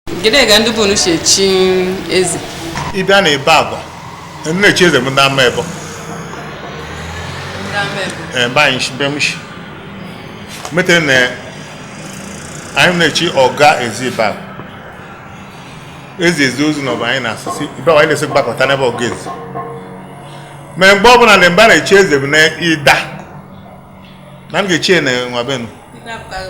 Kedu ka ndị be unu si echi eze? Ị bịa na Ibagwa, ndị na-echi eze bụ ndị Amaebo. Ndị ama ebo? Ee, mba anyị shi, mbe m shi. Metere na anyị na-echi ọga ezi Ibagwa. Ezi ezi ozu na ọba anyị na-asịsị, ibe agwa anyị na-esi gbakọta n'ebe ọga ezi. Ma mgbe ọbụla na mba na-echi eze bụ na Idah, na m ga-echi ya na nwa benu. Ndị apụtaghị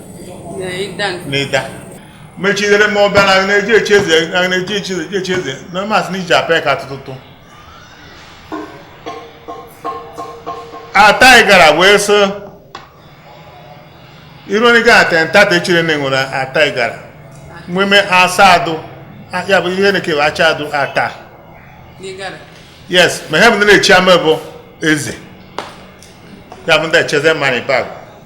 n'Idah mechidere m ọ bịa na na-eji echi eze na na-eji echi eze echi eze na masị na iji apịa ka atụtụtụ Ata Igala wee so iru onye ga-ata ntata echere na enwere Ata Igala nweme Asadu ya bụ ihe na-ekewa Achadu Ata yes ma ihe bụ ndị na-echi ama bụ eze ya bụ ndị echi eze ma n'Ibag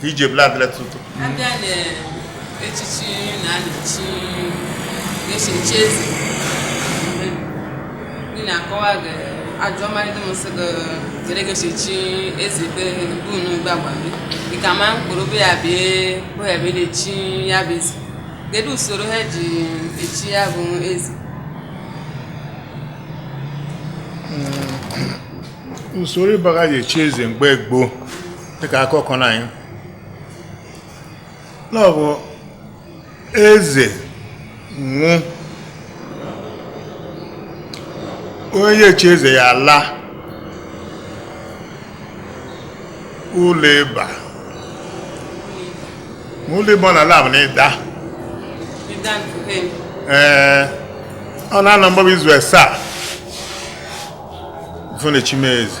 ka iji ebula adịla tutu a bịa na echichi a na-echi echichi eze ndị na-akọwa gị ajụọ mmadụ m sị gị gere gị echichi eze be unu Ibagwa dịka ma mkpụrụ bụ ya bịa bụ ya bịa echi ya bụ eze kedu usoro ha ji echi ya bụ eze usoro Ibagwa ji echi eze mgbe gboo dịka akụkọ na anyị na ọ bụ eze nwụ onye echi eze ya ala ụlọ ịba ma ụlọ ịba ọ na-ala bụ na Idah ee ọ na-anọ mgbaba izu asaa fụ na chime eze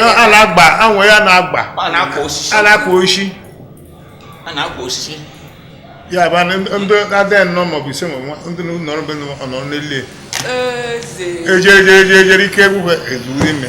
a na-agba anwụ ya na-agba a na-akwa osisi ya bụ ndị adịghị nnọọ maọbụ ise ma ndị nọrọ be nọ n'elie ejere ike egwu ha ezuru ime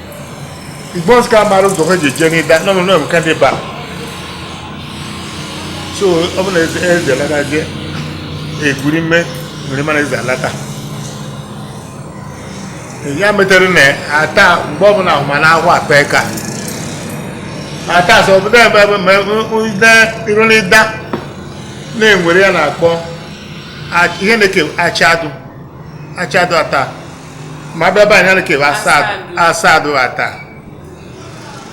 bọs ka mara ụzọ ha ji eje n'Idah nọ nọ n'ebuka ndị ba so ọ bụ na eze alata je egwuri mme nwere mana eze alata ya metere na Ata mgbe ọbụla ahụ ma na ahụ akpa ka ata sọ obodo ebe ebe ma ụda iru n'Idah na-enwere ya na-akpọ a- ihe na-eke Achadu Achadu Ata mmadụ ọba anya nke Asadu Ata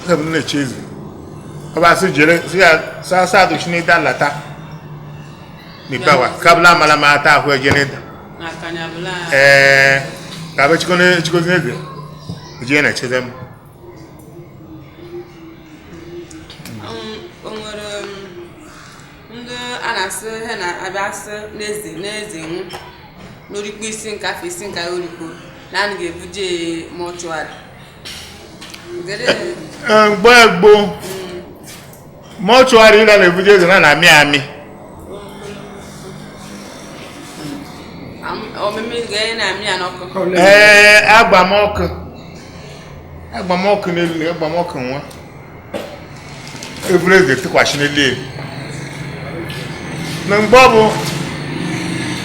m na-echi eze ọba asị jere sị ya sị Asadu si n'Idah lata mipawa kabla amala ma Ata ahụ eje n'Idah ee ka abụ chikozi n'eze eje na-echi eze m ndị a na-asị ha na-abịa asị n'eze n'eze nwụ n'orikpo isi nke afọ isi nke orikpo na a ga-ebuje mortuary mgbe gboo mortuary na na-ebuje eze na na-amị amị ee agbamọkụ agbamọkụ n'elu agbamọkụ nwa e buru eze tụkwasị n'elu na mgbe ọ bụ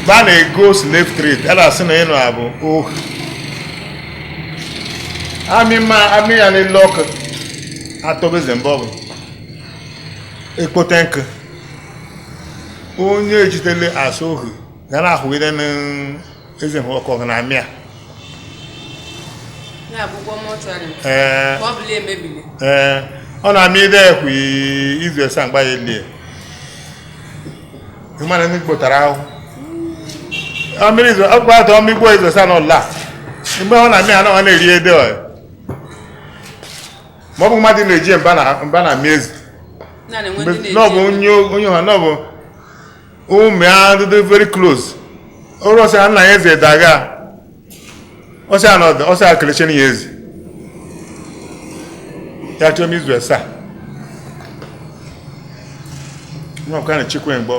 ba na-ego slave trade a na-asị na ịnụ abụ ohu amị ma amị ya n'elu ọkụ atọbe eze mgbe ọ bụ e kpote nkụ onye e jidele as ohu ga na-ahụgide eze hụ ọkụ na-amị a ee ọ na-amị ide ekwe izu esa mgba ya elie ịmana ndị kpotara ahụ ọkpụkpọ atọ ọmịgbo izu esa na ọla mgbe ọ na-amị anọ ọ na-eri ede ọ ma ọ bụ mmadụ na-eji mba na-amị eze na ọ bụ onye ọha na ọ bụ ụmụ ya dị very close ọrụ ọsị nna ya eze daga ọsị anọdụ ọsị akelechi na ya eze ya chọọ m izu esa nwa ọkara chikwe mgbe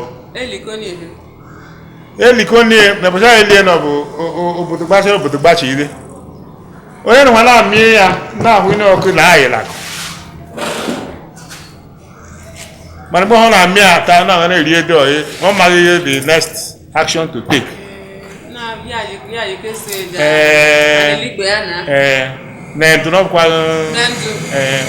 e likonie na bụcha elie na ọ bụ obodo gbachi obodo gbachi ire onye na nwa na-amịe ya na-ahụ ihe ọkụ na ayịlakụ mana mgbe ọ na-amị ata na na-eri ede ọyị ọ maghị ihe the next action to take ee na ndụ n'ọkwaghị ee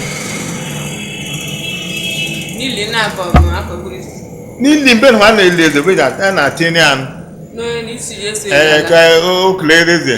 n'ili mbe na na-eli eze mgbe a na-atinye anụ ee ka o kele eze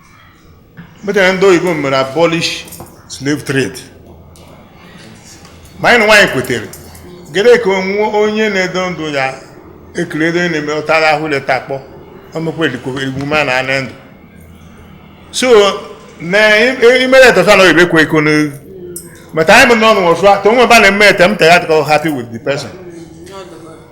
mechaa ndị oyibo mere abolish slave trade ma anyị na nwaanyị kwetere gere ka onwe onye na-edo ndụ ya ekiri edo na-eme ụtara ahụ leta akpọ omekwa emume a na-anị ndụ so na imere etọsa na oyibo ekwe eko n'elu mata anyị bụ n'ọnụ ọsụ atọ onwe ebe a na-eme ete m tega atịkọ happy with the person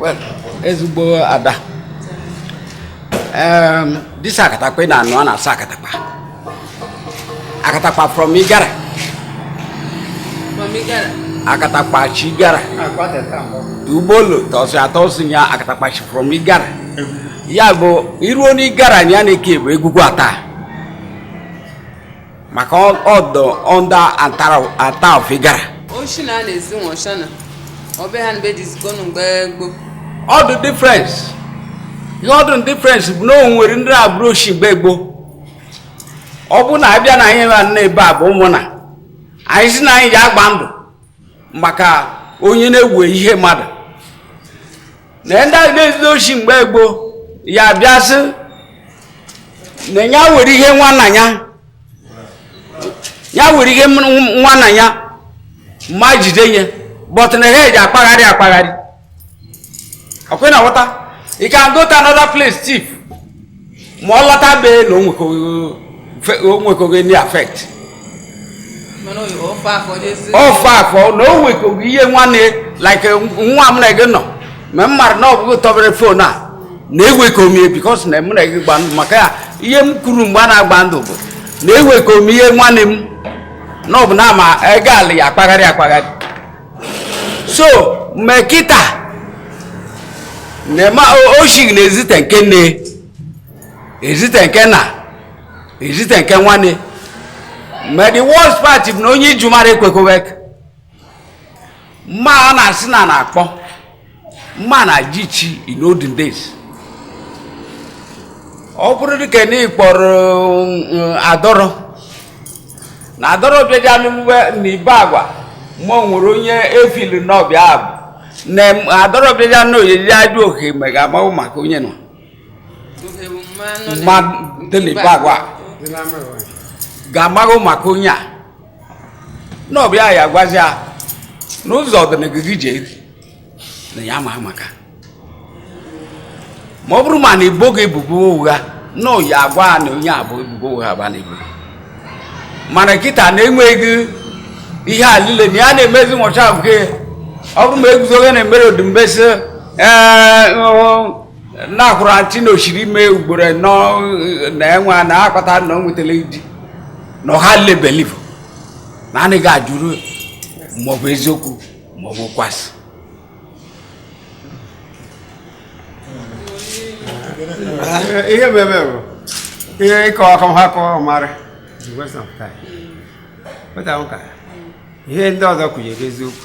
well ezigbo ada um, this akatakpa ị na-anụ a na-asị akatakpa akatakpa from igara akatakpa chi igara ugbolo tọsị atọsị ya akatakpa chi from igara ya bụ i ruo n'igara ya na-eke bụ egwugwu ata maka ọ dụ under ata of igara oshi na a na-ezi nwọcha na ọbe ha mgbe dizikonu mgbe gboo ọ dụ difference ihe ọ dụ difference bụ na o nwere ndị abụrụ oshi mgbe gboo ọ bụrụ na a bịa na anyị na ebe a bụ ụmụnna anyị sị na anyị ja-agba ndụ maka onye na-ewe ihe mmadụ na ndị ahụ na-ezu oshi mgbe gboo ya bịa sị na ya were ihe nwanna ya ya were ihe m- nwanna ya ma jide nye but na ha eji akpagharị akpagharị ọ kwa ị na-aghọta you can go to another place thief ma ọ lọta be na o nwekọghị- fe- o nwekọghị ndị affect mana oyi ofe afọ n'ezi ofe afọ na o nwekọghị ihe nwanne like nwa m na gị nọ ma m mara na ọ bụ gị tọbere phone a na ewekọ m ye because na m na gị gba ndụ maka ya ihe m kwuru mgbe a na-agba ndụ bụ na ewekọ m ihe nwanne m na ọ bụ na ama ego ala ya akpagharị akpagharị so me kịta nema oshig na ezite nke nne ezite nke nna ezite nke nwanne ma the worst part bụ na onye ijumara ekwekowek mma a na-asị na na-akpọ mma na ji chi in olden days ọ bụrụ dịka na ịkpọrọ mm, adọrọ na adọrọ bịaja n'ugbe na ibagwa ma ọ nwere onye efili n'ọbịa abụ na m- adọrọ bịaja na oyiri ajụ ohe me ga-amahụ maka onye nọ mma dị na ibagwa ga-amaghị maka onye a n'ọbịa ya gwazi ya n'ụzọ ọdịnihu gị ji eri na ya ma maka ma ọ bụrụ ma na e bo gị ebubo ụgha na ya agwa na onye a bụ ebubo ụgha ba na-ebo mana kịta na enweghị ihe a niile na ya na-emezi nwọcha nke ọ bụrụ ma eguzoghị na emere odumbe sị ee na-akwụrụ ntị na o siri ime ugboro nọ na enwe na akpata na o nwetara di na ọha lile believe na anaghị ajụrụ maọbụ eziokwu maọbụ okwu asị ihe bụ ebe bụ ihe ịkọ ọkọ ha kọọ ọmarị ihe ndị ọzọ kwunyere eziokwu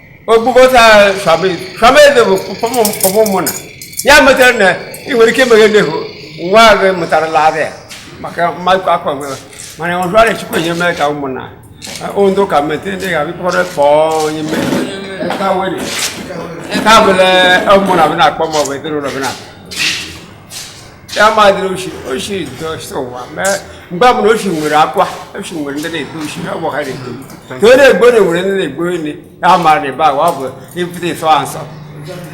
okpokọta fameze bụ pọpọ mụ na ya metara na ị nwere ike emeghe nnehu nwa gị mụtara laadị ya maka mmadụ akwa mgbe mana ọzọ a na-echukwu enye mee ka ụmụnna ndụ ka mete ndị ga-abịakọrọ kpọọ onye mee ka bụle ụmụnna bụna akpọ ma ọ bụ ezinụlọ bụna ya madịrị oshi oshi dọsụwa mee mgbe ọ bụla oshi nwere akwa oshi nwere ndị na-egbu oshi ọ bụ ha na-egbu ka onye egbo na nwere ndị na-egbu onye ya mara na ebe ahụ ọ bụ ibute ịsọ ha nsọ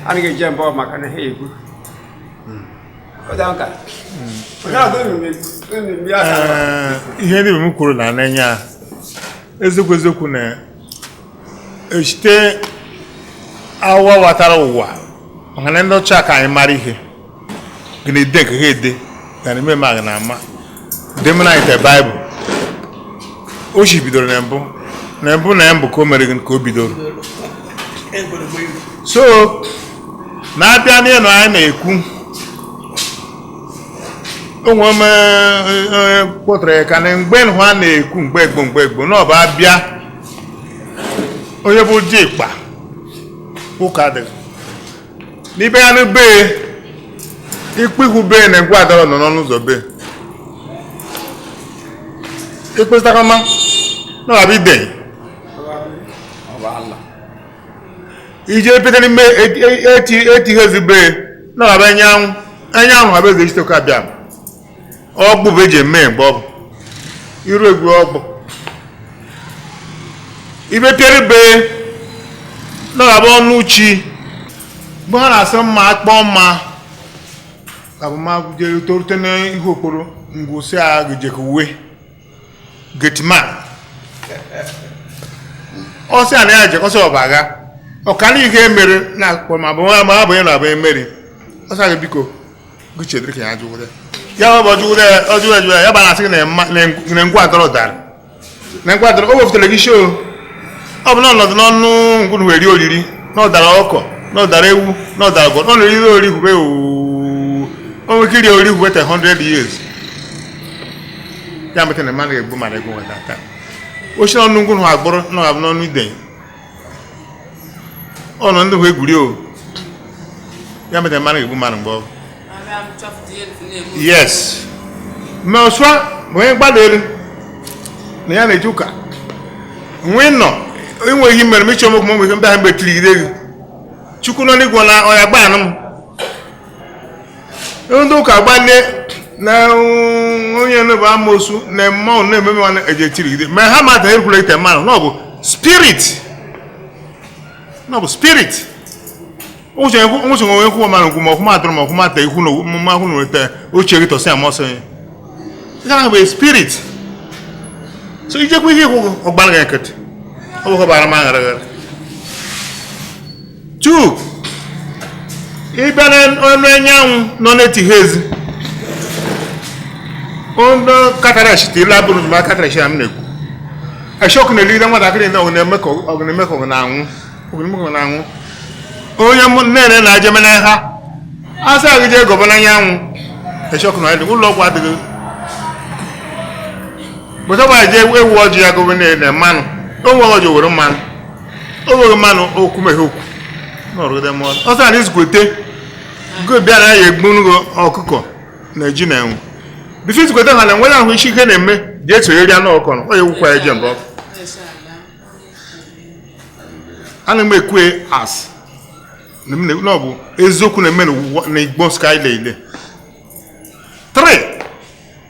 anaghị eje mbọ maka na ha egbu ihe ndị m kwuru na n'enya eziokwu eziokwu na esite awawatara ụwa maka na ndị ọcha ka anyị mara ihe gịnịde ka ha ede na n'ime ma gị na-ama demonite baịbụl oshi bidoro na mbụ na mbụ na mbụ ka o mere ka o bidoro so na-abịa n'ịnụ anyị na-ekwu onwe m kpọtara ya ka na mgbe nhụ a na-ekwu mgbe egbo mgbe egbo na ọba abịa onye bụ dikpa ụka dịrị n'ibe ya n'ebe ikpe ihu be na ngwu adọrọ nọ n'ọnụ ụzọ be ikpesịtakọma na ọ bụ idei ije pete n'ime eti eti ihe ezigbo na ọ bụ anyanwụ anyanwụ abịa ezechitoke abịa ọgbụ bụ eji eme mgbe ọgbụ iru egwu ọgbụ ibe pịara be na ọ ga-abụ ọnụ chi mgbe ha na-asị mma akpọọ mma ka bụ ma jere torute n'ihu okporo ngwụsị a ga-ejekwu gateman ọ sị ya na ya jekọsị ọba agha ọkara ihe mere na akpọ ma bụ ma abụ ya na abụ emeri ọ sị ya ga biko chedịrị ka ya jụwụrụ ya ya bụ ọjụwụrụ ya ọjụwụrụ ya jụwụrụ ya ya bụ na-asị gị na mma- na nk- na ngwu adọrọ dara na ngwu adọrọ o wepụtara gị shoo ọ bụ na ọ nọdụ n'ọnụ ngwu nhụ weri oriri na ọ dara ọkụkọ na ọ dara ewu na ọ dara gwọ na oriri ori hube oo o nwere ike iri ori hube te 100 years ya mete na mmadụ ga-egbu mmadụ egbu nweta taa o shi n'ọnụ ngwu nhụ agbụrụ na ọ ga-abụ n'ọnụ idei ọnụ ndị hụ egwuri o ya meta mmadụ egbu mmadụ mgbe ọ yes ma ọsụa bụ onye gbadoro anya na-eji ụka nwee nọ inwe ihe mere m ịchọ m okwu m nwere ndị ahụ mgbe tiri gị chukwu nọ n'igwe na ọ ya gbaa anụ m ndị ụka gbalie na onye nebe amosu na mmanwụ na-eme mmanụ eji etirigide ma ha mata ekwula ite mmanụ na ọ bụ spirit na ọ bụ spirit ụzọ onwe kwuo mmanụ nkwụ ma okwuma atụrụ ma okwuma ata ikwu na mma kwụ na weta uche gị tọsị amasị onye nke ahụ bụ spirit so ijekwa ihe i kwu ọ gbara gị nkịtị ọ bụkwa gbara m aghara aghara 2 ịbịa na ọnụ anyanwụ nọ n'etiti ezi ụnọ katarash tiri abụrụ na katarash a m na-ekwu eshọkụ na-ejide nwatakịrị na ọ na-eme ka ọ na-eme ka ọ na-anwụ ọ na-eme ka ọ na-anwụ onye mụ nne na ajeme na ha asị gị jee gọba n'anyanwụ eshọkụ na adịghị ụlọ ọgwụ adịghị bụtaba je ewu ojii ya gọba na mmanụ onwe ọjị were mmanụ o were mmanụ okwu meghe okwu n'ọrụgide mmụọ ọ sị na izkwete go bịara ya egbunugo ọkụkọ na ji na enwe bife izkwete ha na enwe ya ahụ isi ike na-eme dị esinyere ya n'ọkụ na ọ ya ekwukwa ya je mba ọkụ ana m ekwu asị na m na- na ọ bụ eziokwu na-eme n'ụwa- na igbo nsụka liile 3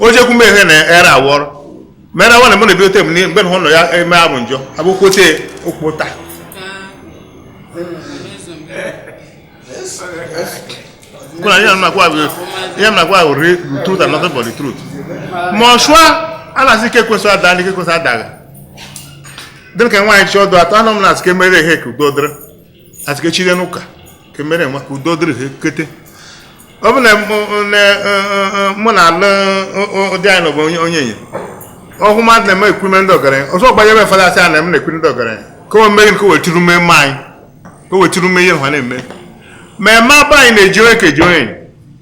ojekwu m ehe na era awọrọ mere awa na mụ na-ebidote m n'ihe mgbe na ụlọ ya eme abụ njọ abụ kwote okpota kuna ihe m na-agwa bụ ihe m na-agwa bụ re- the truth and nothing but the truth ma ọchụa a na-asị ike kwesị ada ndị ike kwesị adaghị dịrị ka nwaanyị chọọ ọdụ atọ anọ m na-asị ka emere ihe ka udo dịrị asị ka echire n'ụka ka emere nwa ka udo dịrị ha ekete ọ bụ na mụ na alụ ụdị anyị n'ọbụ onye onye ọhụ mmadụ na-eme ekwume ndị ọgaranya ọzọ gbanyere fada asị a na m na-ekwu ndị ọgaranya ka o meghị ka o wetiri ume mma anyị ka o wetiri ume ihe ha na-eme ma eme abụ anyị na-eji onye ka eji onye